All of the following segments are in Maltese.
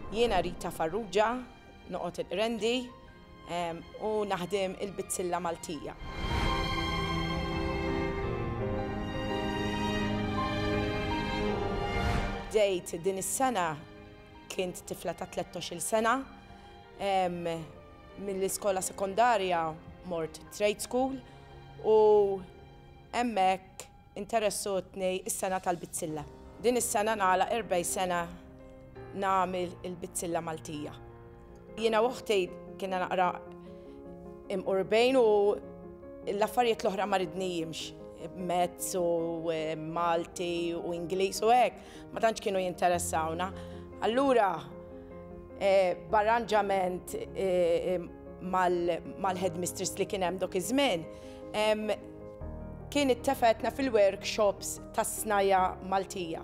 Jiena Rita Farrugia, noqgħod il-Qrendi ehm, u naħdem il-bizzilla Maltija. Bdejt din is-sena kint tifla ta' 13 sena ehm, mill-iskola sekondarja mort trade school u hemmhekk Interessu tnej is-sena tal-bizzilla. Din is-sena nagħlaq erbgħi sena nagħmel il-bizzilla Maltija. Jiena u oħti kienna naqra imqurbejn u l-affarijiet l-oħra ma ridnijimx, mezz u Malti u Ingliż u hekk, ma tantx kienu jinteressawna. Allura b'arranġament mal-headmistress li kien hemm dok iż-żmien, Kien ittefgħetna fil-workshops tas-snajja' Maltija,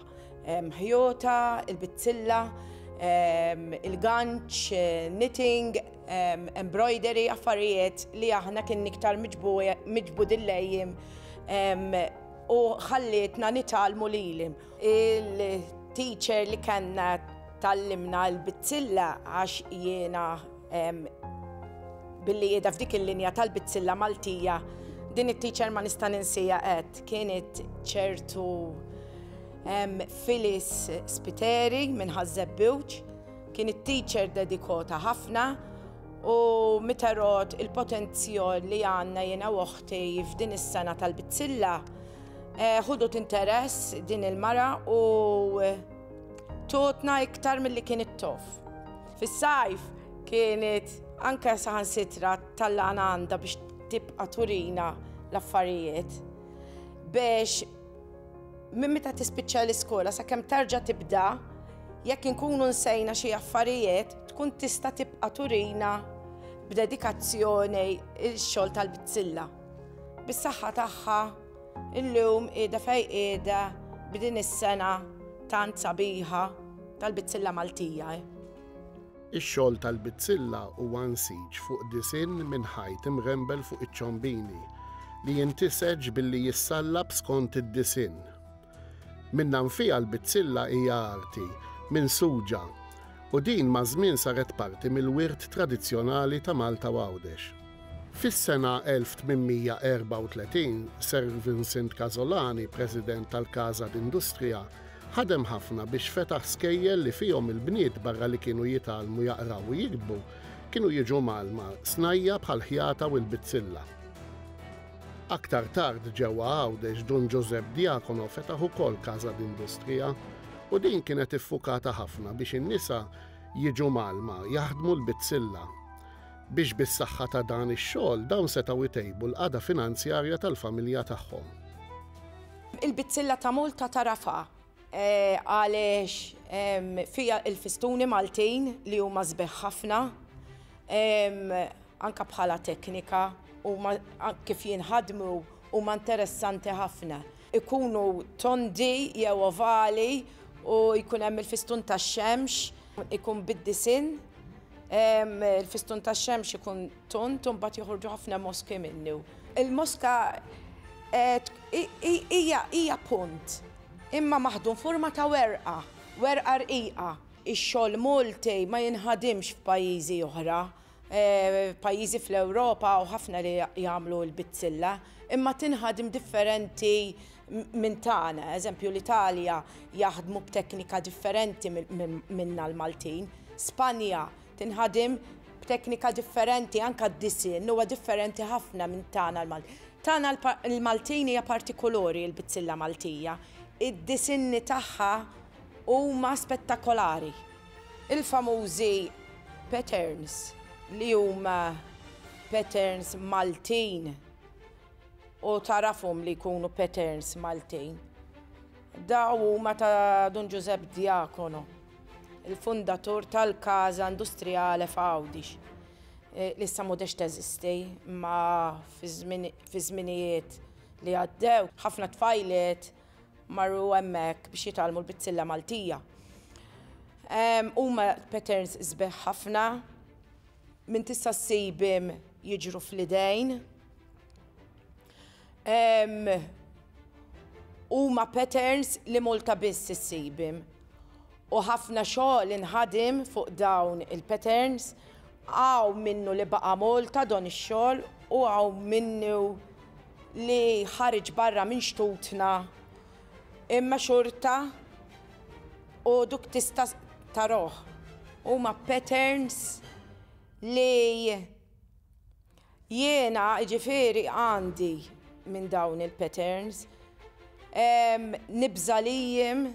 ħjota, il-bizzilla, il-ganċ, knitting, embroidery, affarijiet li aħna kien iktar miġbudin lejhim u ħallietna nitgħallmu lilhim. Il-teacher li kellna tgħallimna l-bizzilla għax jiena Billi qiegħda f'dik il-linja tal-bizzilla Maltija, din it-teacher ma nista' ninsija qed kienet ċertu Filis Spiteri minn Ħaż-Żebbuġ, kien it-teacher dedikota ħafna u miterod il-potenzjol li għandna jiena u oħti f'din is-sena tal-bizzilla ħudut interess din il-mara u totna iktar milli kienet tof. Fis-sajf kienet anke saħansitra tallaqna għandha biex tibqa' turina l-affarijiet biex minn meta tispiċċa l-iskola sakemm terġa' tibda jekk inkunu nsejna xi affarijiet tkun tista' tibqa' turina b'dedikazzjoni x-xogħol tal-bizzilla. Bis-saħħa tagħha Illum qiegħda fejn qiegħda b'din is-sengħa tant sabiħa tal-bizzilla Maltija. Ix-xogħol tal-bizzilla huwa nsiġ fuq disinn minn ħajt imghembel fuq iċ-ċombini li jintiseġ billi jissallab skont id-disinn. Minnanfiha l-bizzilla hija arti minsuġa u din maż-żmien saret parti mill-wirt tradizzjonali ta' Malta u Għawdex. Fis-sena 1834, Sir Vincent Casolani, President tal-Casa d'Industria, ħadem ħafna biex fetaħ skejjel li fihom il-bniet barra li kienu jitgħallmu jaqraw u jiktbu, kienu jiġu mgħallma snajja' bħall-ħjata u l-bizzilla. Aktar tard ġewwa Għawdex Dun Ġużepp Diacono fetaħ ukoll Casa d'Industria u din kienet iffukata ħafna biex in-nisa jiġu mgħallma jaħdmu l-bizzilla. biex bis-saħħa ta' dan ix-xogħol dawn setgħu jtejbu l-qagħda finanzjarja tal-familja tagħhom. Il-bizzilla ta' Malta tagħrafha għaliex fiha l-fistuni Maltin li huma sbieħ ħafna anke bħala teknika u kif jinħadmu huma interessanti ħafna. Ikunu tondi jew ovali u jkun hemm il-fistun tax-xemx Ikun bid-disinn, il-fistun tax-xemx ikun tont u mbagħad joħorġu ħafna moski minnu. Il-moska hija punt imma maħdum forma ta' werqa, werqa rqiqa. Ix-xogħol Malti ma jinħadimx f'pajjiżi oħra pajjiżi fl-Ewropa u ħafna li jagħmlu l-bizzilla, imma tinħadem differenti minn tagħna. Eżempju, l-Italja jaħdmu b'teknika differenti minna l-Maltin. Spanja tinħadem b'teknika differenti, anka d-disin huwa differenti ħafna minn tagħna l-Maltin. Tagħna l-Maltin hija partikolori l-bizzilla Maltija. Id-disinni tagħha huma spettakolari. Il-famużi patterns li huma patterns Maltin u tagħrafhom li jkunu patterns Maltin. Dawn huma ta' Dun Ġużepp Diacono, il-fundatur tal-Casa Industriale f'Għawdix, li issa m'għodhiex teżisti, imma fiż-żminijiet li għaddew ħafna tfajliet, marru hemmhekk biex jitgħallmu l-bizzilla Maltija. Huma patterns sbeħ ħafna minn tista' ssibhom jiġru fl-idejn. Huma patterns li Malta biss issibhom. U ħafna xogħol inħadem fuq dawn il-patterns, hawn minnu li baqa' Malta dan ix-xogħol u hawn minnu li ħareġ barra minn xtutna imma xorta u duk tista' taroh. Huma patterns li jiena ġifieri għandi minn dawn il-patterns. Nibża' lihim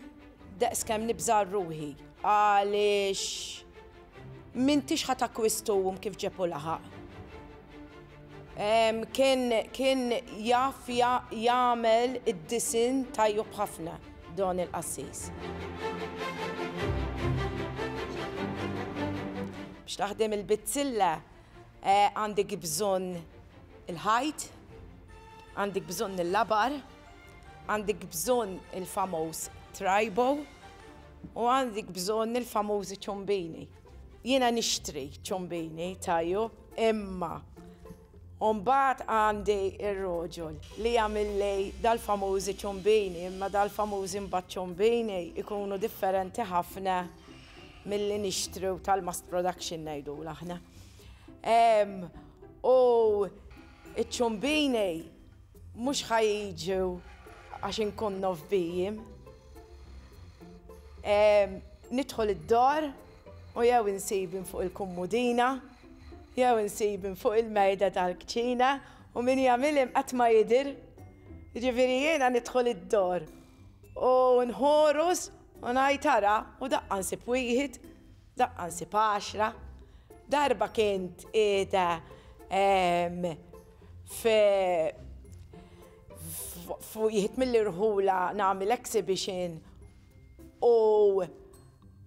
daqs kemm nibża' għal ruħi għaliex m'intix ħa takkwisthom kif ġeb u laħaq. Kien kien jaf jagħmel id-disinn tajjeb ħafna Don il-qassis. Biex taħdem il-bizzilla għandek bżonn il-ħajt, għandek bżonn il-labar, għandek bżonn il-famuż trajbo u għandek bżonn il-famużi ċombini. Jiena nixtri ċombini tajub imma mbagħad għandi r-roġol li jagħmilli dal-famużi ċombini imma dal-famużi mbagħad ċombini jkunu differenti ħafna milli nixtru tal-mass production ngħidulu aħna. U ċ-ċombini Mhux ħa jiġu għax inkunnu f'bijiem. Nidħol id-dar u jew insibin fuq il-kummudina, jew insibin fuq il-mejda tal-kċina u min jagħmilhom qatt ma jidher. Jiġifieri jiena nidħol id-dar u nħoros u ngħid ara u daqqa nsib wieħed, daqqa nsib għaxra. Darba kien qiegħda Jħid mill-irħula nagħmel exhibition u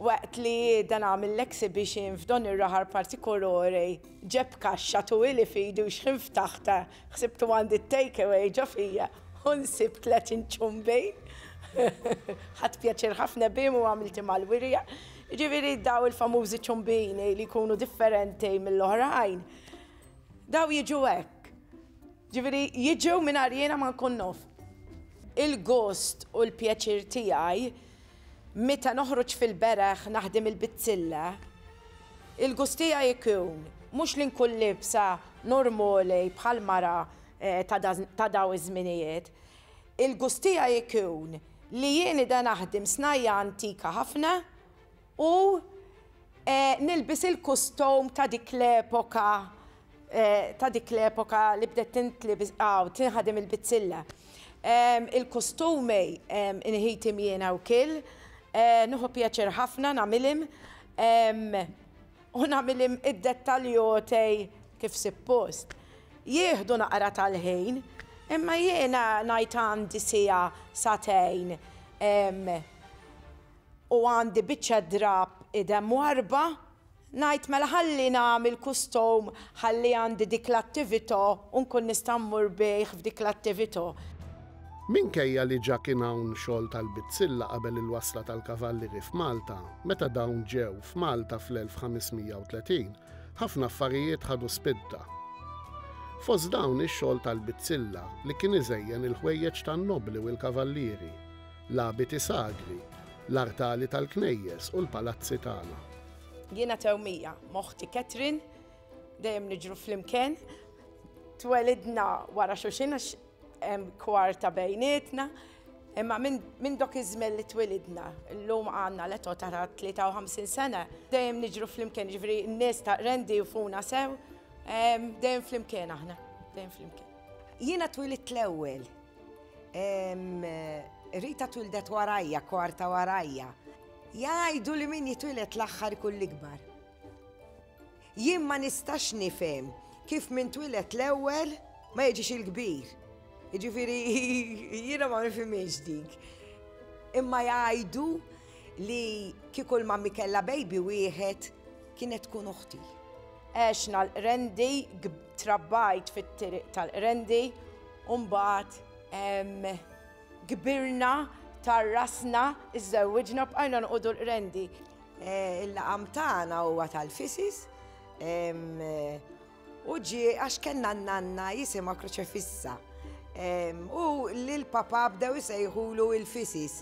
waqt li qiegħda nagħmel l-exhibition f'dan ir-raħal partikolari ġab kaxxa twil f'idu xħin ftaħtha ħsibtu għandi t-take away ġo fija u nsibt tliet inċumbi. Ħadt pjaċir ħafna bihom u għamilthom mal-wirja. Ġifieri dawn il-famużi ċumbini li jkunu differenti mill-oħrajn. Daw jiġu hekk. Ġifieri jiġu mingħajr jiena ma nkun naf. Il-gost u l-pjaċir tiegħi meta noħroġ fil-bereħ naħdem il-bizzilla, il-gust tiegħi jkun mhux li nkun liebsa normali bħal mara ta' daw iż-żminijiet. Il-gust tiegħi jkun li jien qiegħda naħdem snajja antika ħafna U nilbis il-kustom ta' dik l-epoka ta' dik l-epoka li bdet tintlibis aw tinħadem il-bizzilla. Il-kustumi inħitim jiena wkil, nieħu pjaċir ħafna nagħmilhim u nagħmilhim id-dettaljotej kif sippost. Jieħdu naqra tal-ħin, imma jiena ngħid għandi siegħa sagħtejn u għandi biċċa drapp idem mwarrba, ngħid mela ħalli nagħmel kustum ħalli għandi dik l-attività u nkun nista' mmur bih f'dik l-attività. Minkejja li ġa kien hawn xogħol tal-bizzilla qabel il-wasla tal-kavallieri f'Malta, meta dawn ġew f'Malta fl-1530, ħafna affarijiet ħadu spinta. Fost dawn ix-xogħol tal-bizzilla li kien iżejjen il-ħwejjeġ tan-nobbli u l-kavallieri. L-abiti sagri, l-artali tal-knejjes u l-palazzi tagħna. Jiena Tewmija, ma' oħti Catherine, dejjem niġru flimkien. Twelidna wara xulxin għax hemm kwarta bejnietna. Imma minn dok iż-żmien li twilidna, llum għandna l-età ta' 53 sena, dejjem niġru flimkien, ġifieri n-nies ta' rendi jufuna sew, dejjem flimkien aħna, dejjem flimkien. Jiena twilit l-ewwel Rita twildet warajja, kwarta warajja. Jgħidu li min jitwilet l-aħħar ikun l-ikbar. Jien ma nistax nifhem kif min twilet l-ewwel ma jiġix il-kbir. Jiġifieri jiena ma nifhimiex dik. Imma jgħidu li kieku l-mammi kellha baby wieħed kienet tkun uħti. Għexna l-qrendi Trabbajt fit-tiriq tal-Qrendi u mbagħad kbirna, tarrasna, iżżewwiġna u bqajna noqogħdu l-Qrendi. Il-laqam tagħna huwa tal-fisis u ġie għax kellna n-nanna jisimha Kruċefissa u l-papà bdew isejħulu il-fisis.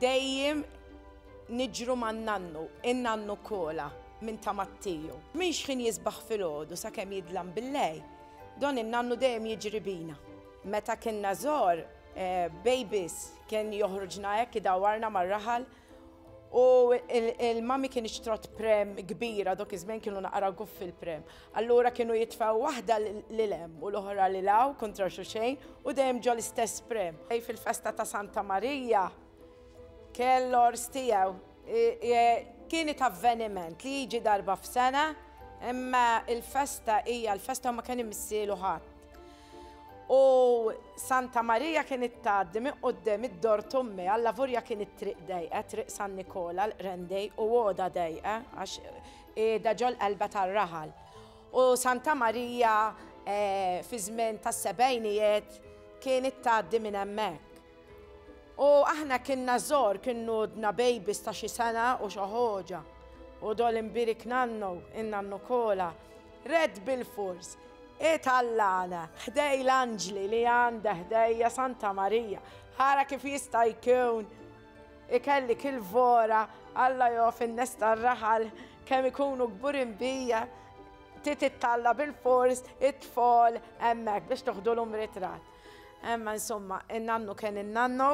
Dejjem niġru man-nannu, in-nannu Kola, minn ta' Mattiju. Minn xħin jisbaħ filgħodu sakemm jidlam bil-lejl, dan in-nannu dejjem jiġri bina. Meta kinna żgħar, babies, kien joħroġna hekk idawwarna mar-raħal u l-mummy kinitx trott pram kbira, dawk iż-żmien kienu naqra guffi l-pram, Allura kienu jitfgħu waħda lil hemm u l-oħra lil hawn kontra xulxejn u dejjem ġo l-istess prim. Fil-festa ta' Santa Marija kien l-għors tiegħu. Kienet avveniment li jiġi darba f'sena imma l-festa hija l-festa u ma kien imissielu ħadd. U Santa Marija kienet tgħaddi minn quddiem id-dor t'ommi, allavurja kienet triq dejqa, Triq San Nikola, l-Qrendej u għoda dejqa għax Qiegħda ġol-qalba tar-raħal. U Santa Marija fiż-żmien tas-sebgħinijiet kienet tgħaddi minn hemmhekk. U aħna kienna żgħar, kien għodna babies ta' xi sena u xi ħoġa. U dol inbirik nannu, in-nannu Kola, red bilfors itallana ħdej l-anġli li għandi ħdejja Santa Marija. Ara kif jista' jkun! Ikelli kilvora, Alla jof in-nes tar-raħal kemm ikunu kburin bija, trid ittalla' bilfors it-tfal hemmhekk biex toħdulhom ritratt. Imma insomma, in-nannu kien in-nannu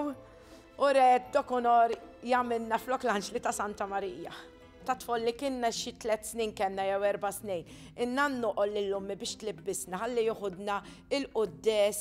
u re Dokunor jagħmilna flok l-anġli ta' Santa Marija. Ta' tfal li kienna xi tliet snin kellna jew erba' snin, in-nannu qal lil ommi biex tlibbisna ħalli joħodna il-quddies.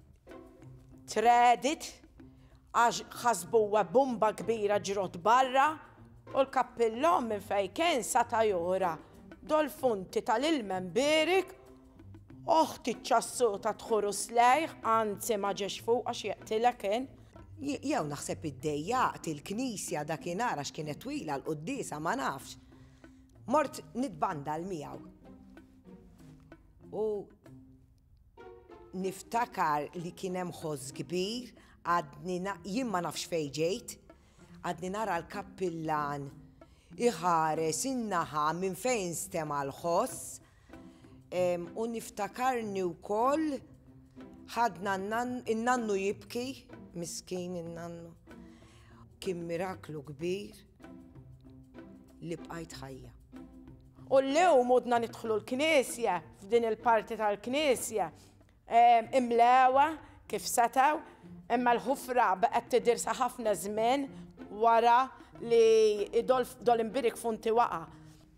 Tredit għax ħasbuha bumba kbira ġrot barra u l-kappillon minn fejn kien sata' jora dol-funti tal-ilma mbierik oħti ċ-ċassuta tħuru slejh anzi ma ġiex fuq għax jeqtilha kien. Jew naħseb iddejjaqt il-knisja dakinhar għax kienet twila l-quddiesa ma nafx. Mort nitbandal miegħu. U Niftakar li kien hemm ħoss kbir, għadni jien ma nafx fejn ġejt, għadni nara l-kappillan iħares in-naħa minn fejn stema' l-ħoss u niftakarni wkoll ħadna n-nannu jibki, miskin in-nannu. Kien miraklu kbir. li bqajt ħajja. U l-lew mudna nidħlu l-knisja, f'din il-parti tal-knisja, imlewa kif setaw, imma l-ħufra baqgħet tidirsa ħafna żmien wara li dol imbirik funti waqa.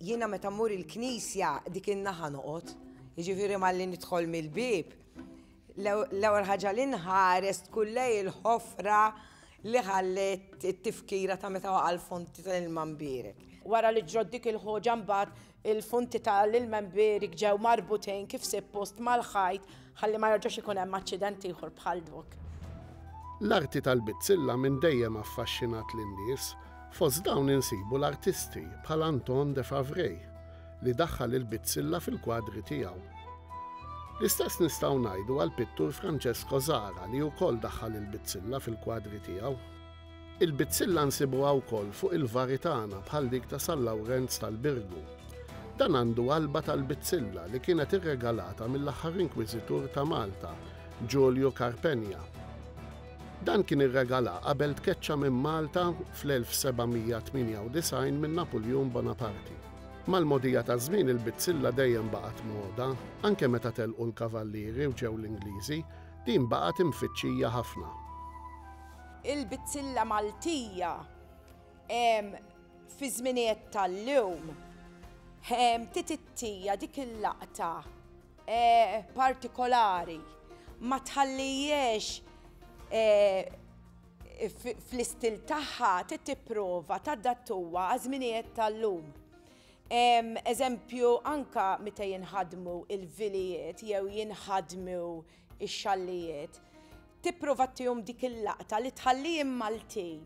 Jiena meta mmur il-knisja dik in-naħa noqgħod, jiġifieri malli nidħol mill-bieb, L-ewwel ħaġa li nħares tkun lejn il-ħofra li ħalliet it-tifkira ta' meta waqa' l-fonti tal-ilma mbierek. Wara li ġrot dik il-ħoġa mbagħad il-fonti tal-ilma mbierek ġew marbutejn kif sippost mal-ħajt ħalli ma jerġax ikun hemm aċċident ieħor bħal dok. L-arti tal-bizzilla minn dejjem affaxxinat lin-nies, fost dawn insibu l-artisti bħal Anton Defavray. li daħħal il-bizzilla fil-kwadri tiegħu. L-istess nistgħu ngħidu għall-pittur Francesco Zara li wkoll daħħal il-bizzilla fil-kwadri tiegħu. Il-bizzilla nsibuha wkoll fuq il-vari tagħna bħal dik ta' San Lawrenz tal-Birgu. Dan għandu qalba tal-bizzilla li kienet irregalata mill-aħħar inkwiżitur ta' Malta, Giulio Carpenia, Dan kien irregala qabel tkeċċa minn Malta fl-1798 minn Napoleon Bonaparte. Mal-mogħdija taż-żmien il-bizzilla dejjem baqgħet moda, anke meta telqu l-Kavallieri u ġew l-Ingliżi, din baqgħet imfittxija ħafna. Il-bizzilla Maltija fi żminijiet tal-lum titittija dik il-laqta partikolari, ma tħallihiex fl-istil tagħha trid tipprova tadattuha għaż-żminijiet tal-lum. Eżempju, anka meta jinħadmu il-vilijiet jew jinħadmu x-xallijiet, tipprova tihom dik il-laqta li tħallihom Maltin,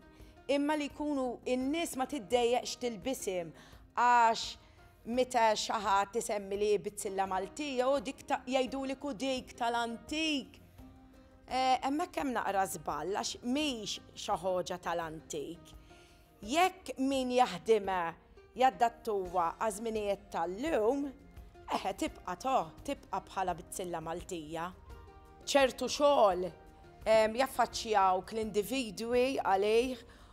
imma li jkunu n-nies ma tiddejjeqx tilbishom għax meta xi ħadd isemmi li hi bizzilla Maltija, oh dik jgħidulek hu dik tal-antik. Hemmhekk hemm naqra żball għax mhix xi ħoġa tal-antik. Jekk min jaħdimha jaddattuha għaż-żminijiet tal-lum, eħe tibqa' to, tibqa' bħala bizzilla Maltija. Ċertu xogħol jaffaċċjawk l-individwi għalih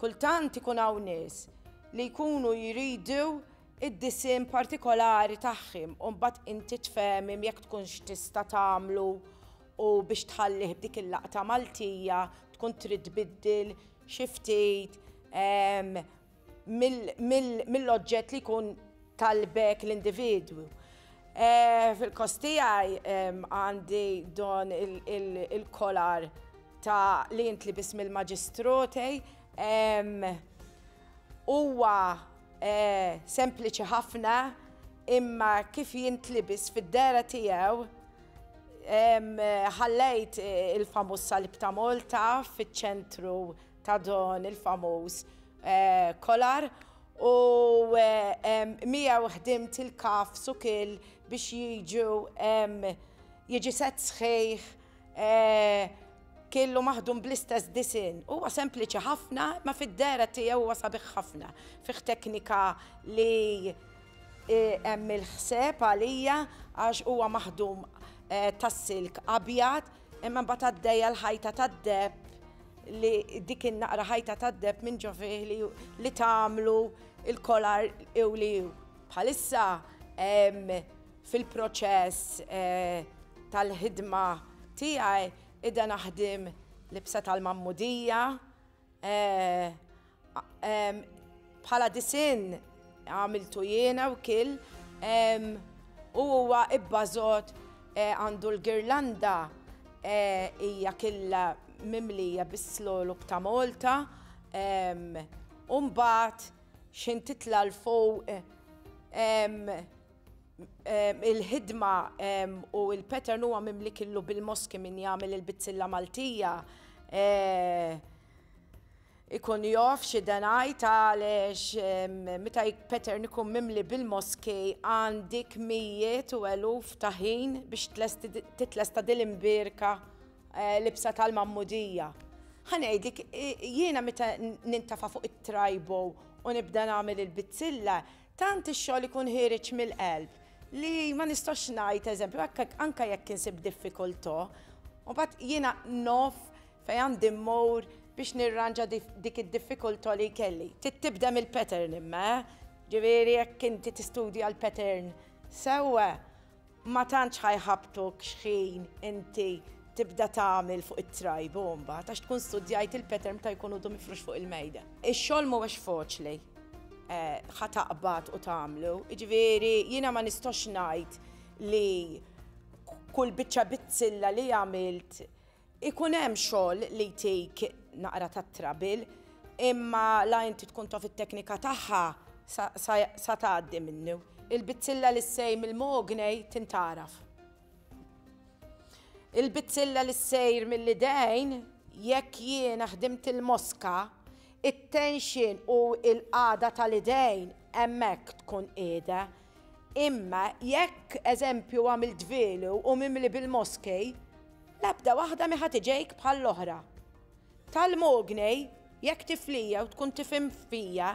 Kultant ikun hawn nies li jkunu jridu d-disinn partikolari tagħhim u mbagħad inti tfehmhim jekk tkunx tista' tagħmlu u biex tħallih b'dik il-laqta Maltija tkun trid tbiddil xi ftit mill-oġġett li jkun tal b'hekk l-individwu. Fil-kost tiegħi għandi don il-kolar ta' li jintlibis mill-maġistroti. Huwa sempliċi ħafna imma kif jintlibis fid-dehra tiegħu ħallejt il-famuż salib ta' Malta fiċ-ċentru ta' dan il-famuż kolar u miegħu ħdimt il-kaf sukil biex jiġu jiġi set sħiħ killu maħdum bl-istess disin. Huwa sempliċi ħafna, ma fid-dera tiegħu huwa sabiħ ħafna. Fih teknika li hemm il-ħseb għalija għax huwa maħdum tas-silk abjad Imma mbagħad għaddejja l-ħajta tad-deb li dik in-naqra ħajta tad-deb minn ġo fih li, li tagħmlu il-kolar iw li iw. Bħalissa em, fil-proċess eh, tal-ħidma tiegħi ida naħdim libsa tal-mammudija, Bħala disinn għamiltu jiena wkil u huwa ibbażot għandu l-girlanda hija killa mimlija bis-slogħlog ta' Malta u mbagħad xi ntitla 'l fuq il-ħidma u il-pattern huwa mimli killu bil-moski min jagħmel il-bizzilla Maltija ikun jof xi denajt għaliex meta pattern ikun mimli bil-moski għandik mijiet u eluf ta' ħin biex titlesta din l-imbierka libsa tal-magħmudija. Ħa ngħidlek, jiena meta nintafa' fuq it-trajbo u nibda nagħmel il-bizzilla, Tant ix-xogħol ikun ħiereġ mill-qalb li ma nistax ngħid eżempju anke anke jekk insib diffikultà, u mbagħad jiena naf fejn għandi mmur biex nirranġa dik id-diffikultà li jkelli. Trid tibda mill-pattern imma, eh! Ġifieri jekk inti tistudja l-pattern sewwa, Ma tantx ħa jħabbtuk x'ħin inti tibda tagħmel fuq it-trajbo mbagħad għax tkun studjajt il-pattern meta jkun udu mifrux fuq il-mejda. Ix-xogħol mhuwiex faċli eh, ħa taqbad u tagħmlu. Jiġifieri jiena ma nistax ngħid li kull biċċa bizzilla li għamilt Ikun hemm xogħol li jtik naqra ta' trabil, imma la inti tkun taf it-teknika tagħha sa tgħaddi minnu. Il-bizzilla li ssej mill-mognej tintgħaraf. Il-bizzilla li ssejr mill-idejn, jekk jiena ħdimt il-moska, it-tension u l-qagħda tal-idejn hemmhekk tkun qiegħda. Imma jekk, eżempju, għamilt velu u mimli bil-moskej, l-ebda waħda mi ħa tiġejk bħall-oħra. Tal-mognej, jekk tiflija u tkun tifhem fija,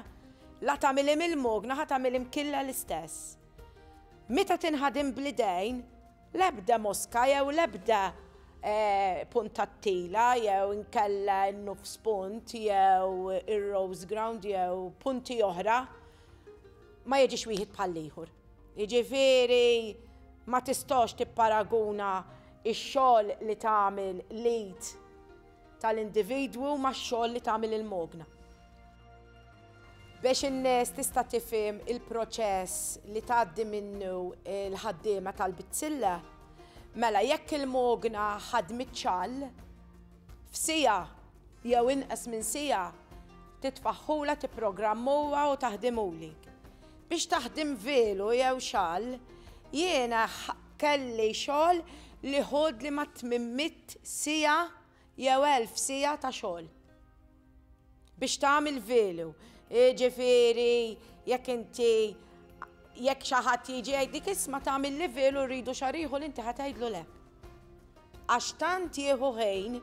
la tagħmilhi mill-mogna ħa tagħmilhi mkilla l-istess. Meta tinħadem bl-idejn, l-ebda moska jew l-ebda puntattila jew inkella n-nofs punt jew ir-rose ground jew punti oħra Ma jiġix wieħed bħall-ieħor. Jiġifieri ma tistax tipparaguna x-xogħol li tagħmel l-id tal-individwu max-xogħol li tagħmel il-mogna. Biex in-nies tista' tifhem il-proċess li tgħaddi minnu l-ħaddiema tal-bizzilla, mela jekk il-mogna ħadmet xall f'siegħa, jew inqas minn siegħa, titfaħħulha, tipprogrammuha u taħdimuli. Biex taħdim velu jew xall, jiena kelli xogħol li ħudli mat-tmien mitt siegħa jew elf siegħa ta' xogħol biex tagħmel velu. Jiġifieri jekk inti jekk xi ħadd jiġi jgħidlik isma' tagħmilli velu rridu xahar ieħor inti ħa tgħidlu le. Għax tant jieħu ħin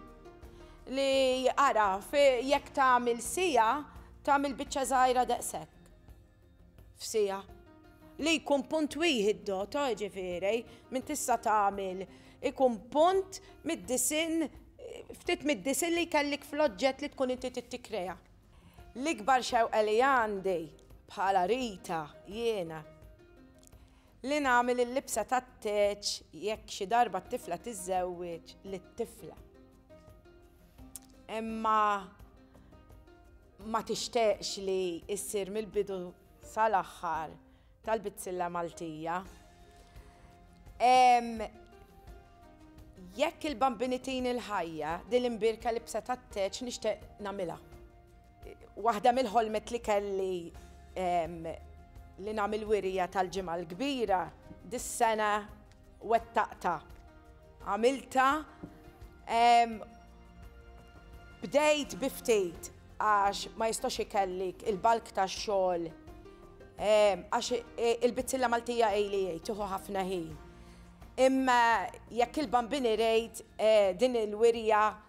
li ara jekk tagħmel siegħa tagħmel biċċa żgħira daqshekk. F'siegħa. Li jkun punt wieħed doto ġifieri min tista' tagħmel ikun punt mid-disinn ftit mid-disinn li jkellik fl-oġġett li tkun inti trid tikkrea. L-ikbar xewqa li għandi bħala Rita jiena Li nagħmel il-libsa tat-teċ jekk xi darba t-tifla tiżżewweġ lit-tifla. Imma ma tixtaqx li issir mill-bidu sal-aħħar tal-bizzilla Maltija. Jekk il-Bambini tini l-ħajja, din l-imbierka libsa tat-teċ nixtieq nagħmilha. Waħda mill-ħolmiet li kelli li nagħmel wirija tal-Ġimgħa l-Kbira dis-sena wettaqtha. Għamiltha bdejt bi ftit għax ma jistax ikellik il-bulk tax-xogħol għax il-bizzilla Maltija ili hi tieħu ħafna ħin. Imma jekk il-Bambini rejt din il-wirja